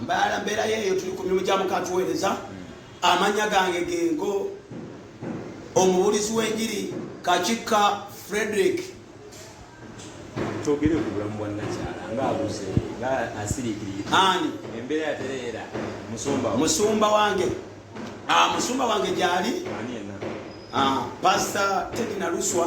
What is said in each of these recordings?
mbaala mbeera yeeyo tuli ku mirimu gya mukatuweereza amanya gange gengo omubulizi w'enjiri kakikka frederick twogere ku bulamu bwa nakyala ngaabuze nga asiriikirire ani embeera yatereera musumba musumba wange ah, musumba wange gyali ah, pasita tedi naluswa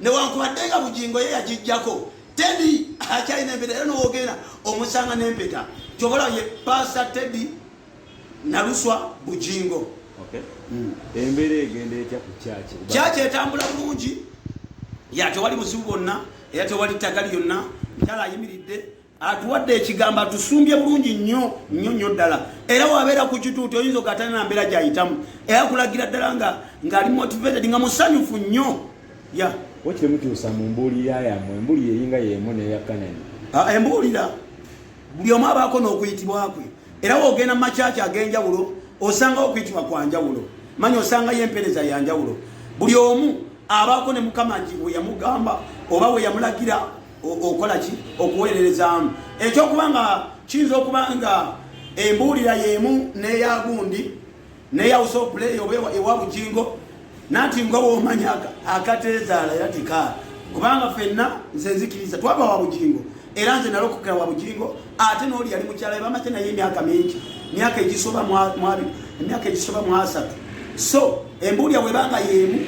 newankubadde nga bugingo ye yagijjako tedi akyalina empeta era nowogenda omusanga nempeta kyobola ye pasa tedi naluswa bugingo hmm. embeera egenda etya ku kyaki kyaki etambula bulungi ya tewali buzibu bwonna era tewali ttaka lyonna mukyala ayimiridde atuwadde ekigambo atusumbye bulungi nnyo nnyo nnyo ddala era wabeera ku kituuti oyinza okatana na mbeera gyayitamu era kulagira ddala nga ngaali motivated nga musanyufu nnyo ya wakiri mutuusa mu mbuulira yamwe embuulira eringa yemu neya kanani ah, embuulira buli omu abaako n'okuyitibwa kwe era wogenda mu makyaki ag'enjawulo osangawo okuyitibwa kwa njawulo manya osangayo empeereza ya njawulo buli omu abaako ne mukama nti weyamugamba oba weyamulagira okola ki okuweererezaamu ekyokuba nga kiyinza okuba nga embuulira y'emu n'eyagundi neyawusa opuleeyi oba ewa bujingo nanti nga womanya akateezaala era tikaala kubanga fenna nze nzikiriza twaba wa bujingo era nze nalokokera wa bujingo ate n'oli yali mukyala bamate naye emyaka mingi emyaka egisoba mwabiri emyaka egisoba mwasatu so embuulya webanga yemu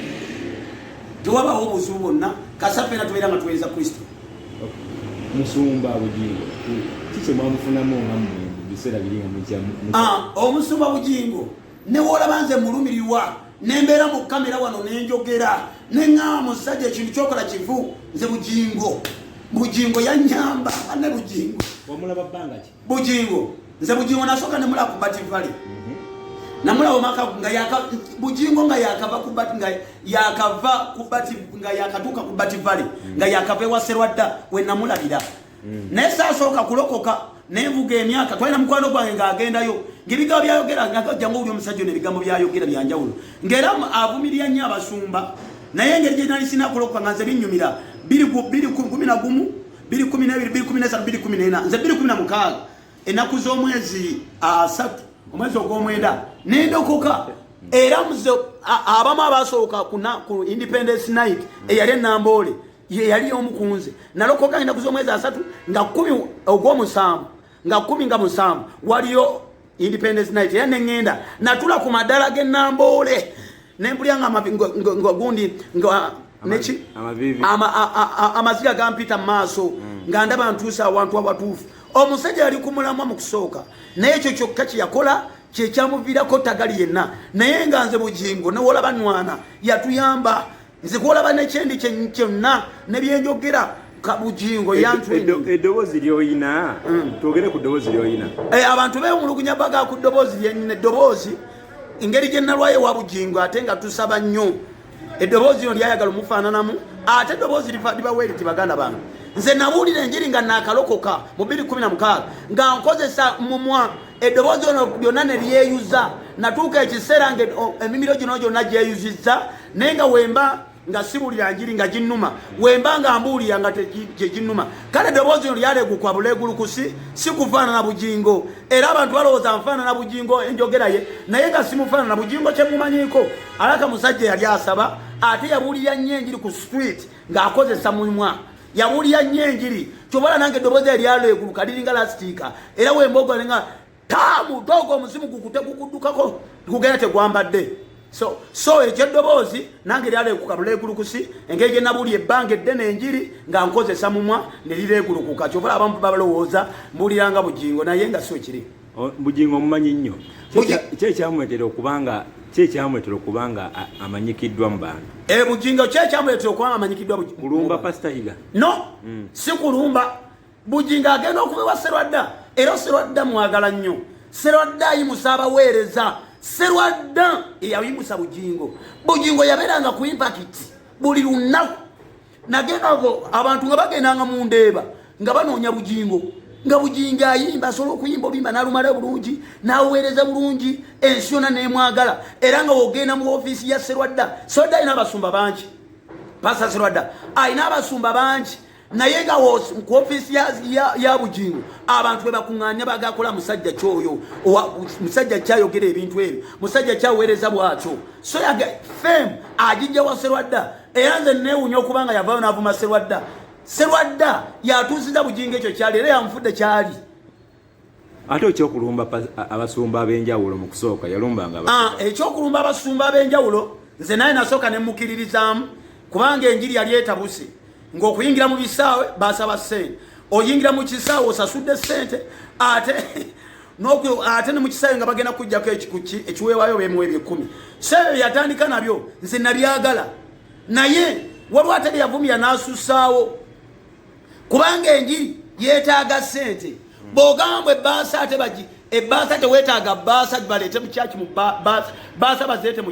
tewabawo obuzibu bwonna kasaffe era tubeera nga tuweereza kristo musumba bugingo kikye mwamufunamu nga mu biseera biri nga mukya ah, omusumba bugingo newoolaba nze mulumirirwa nembeera mu kamera wano nenjogera neŋaa musajja ekintu kyokola kivu nze bugingo bugingo yanyamba ane bugingo wamulaba bbanga ki Bujingo nze Bujingo nasoka nemula ku bati vale mhm. namula omaka nga yaka Bujingo nga yakava ku bati nga yakava ku bati nga yakatuka ku bati vale mhm. nga yakava ewa serwadda we namula bira mhm. naye sasooka kulokoka nevuga emyaka twalina mukwano gwange ng'agendayo ng'ebigambo byayogera ngajja ngaowuli omusajja ono ebigambo byayogera byanjawulo ng'era avumirira nnyo abasumba naye engeri gye nali sinakulokoka nga nze binnyumira biri kumi na gumu biri kumi na biri biri kumi na satu biri kumi na ena nze biri kumi na mukaaga enaku z'omwezi asatu omwezi ogw'omwenda nendokoka era mze abamu abasooka ku independence night eyali enamboole yeyali omukunze nalokoka enaku z'omwezi asatu nga kumi ogw'omusanvu nga kumi nga musanvu waliyo independence night era nengenda natula ku madala ge namboole nembulya nga gundi nga neki amaziga gampita mumaaso mm. nga ndaba ntuusa awantu awatuufu omusajja yali kumulamwa mu kusooka naye ekyo kyokka kyeyakola kyekyamuviirako tagali yenna naye nga nze bugingo newolaba nwana yatuyamba nze kwolaba nekyendi kyonna nebyenjogera kabujingo yantwedoboozi lyoyina mm. twogere ku doboozi lyoyina eh, abantu bewumulugunya baga ku doboozi lyenyina eddoboozi engeri gye nalwayo wa bujingo ate nga tusaba nnyo eddoboozi lino lyayagala omufaananamu ate eddoboozi libaweere ti baganda bange nze nabuulira enjiri nga nakalokoka mu 216 nga nkozesa mumwa eddoboozi ono lyonna ne lyeyuza natuuka ekiseera nga emimiro gino gyonna gyeyuzizza naye nga wemba nga sibulira njiri nga ginnuma wemba nga mbuulira nga gyeginnuma kale eddoboozi lino lyalegukwa bulegulukusi si kufaanana bugingo era abantu balowooza nfaanana bugingo enjogera ye naye nga simufaanana bugingo kyemumanyiiko alaka musajja yali asaba ate yabuulira nnyo enjiri ku street ng'akozesa mumwa yabuulira nnyo enjiri kyobala nange eddoboozi eryalo eguluka liringa lasitiika era wemboga nga taabu dogo omuzimu gukute gukuddukako gugenda tegwambadde so so ekyo eddoboozi nange lyala ekukalula egulukusi engeri gye nabuli ebbanga eddene enjiri nga nkozesa mumwa ne lira egulukuka kyova abamu babalowooza mbuuliranga bugingo naye nga si ekiri bugingo omumanyi nnyo kyekyamwetera okubanga kyekyamwetera okubanga amanyikiddwa mu bantu e bugingo kyekyamwetera okubanga amanyikiddwa kulumba pasita higa no mm. si kulumba Bujingo agenda okuva ewa Serwadda era Serwadda mwagala nnyo. Serwadda ayimusa abaweereza. Serwadda eyayimusa Bujingo. Bujingo yabeeranga ku impakiti buli lunaku. Nagenda abo abantu nga bagendanga mu ndeeba nga banoonya Bujingo. Nga Bujingo ayimba asobola okuyimba oluyimba n'alumala bulungi n'aweereza bulungi ensi yonna n'emwagala era nga wogenda mu ofiisi ya Serwadda. Serwadda alina abasumba bangi. Pasa Serwadda alina abasumba bangi. naye nga ku ofiisi ya bugingo abantu bebakuŋŋaanya bagakola musajja kyoyo musajja kyayogera ebintu ebyo musajja kyaweereza bwatyo so yaga fem agijja wa serwadda era nze neewunya okuba nga yavayo n'avuma serwadda serwadda yatuusiza bugingo ekyo kyali era yamufudde kyali ate ekyokulumba abasumba ab'enjawulo mu kusooka yalumbanga ah, ekyokulumba abasumba ab'enjawulo nze naye nasooka ne mukiririzaamu kubanga enjiri yali etabuse ng'okuyingira mu bisaawe basaba ssente oyingira mu kisaawe osasudde ssente ate ate ne mu kisaawe nga bagenda kujjako ekikuki ekiweewayo bemuwa ebyekumi so ebyo yatandika nabyo nze nabyagala naye waliwo atali yavumira n'asussaawo kubanga enjiri yetaaga sente bwogamba ebbaasa ate bagi ebbaasa tewetaaga bbaasa baleete mu kyaki mu bbaasa bazeete mu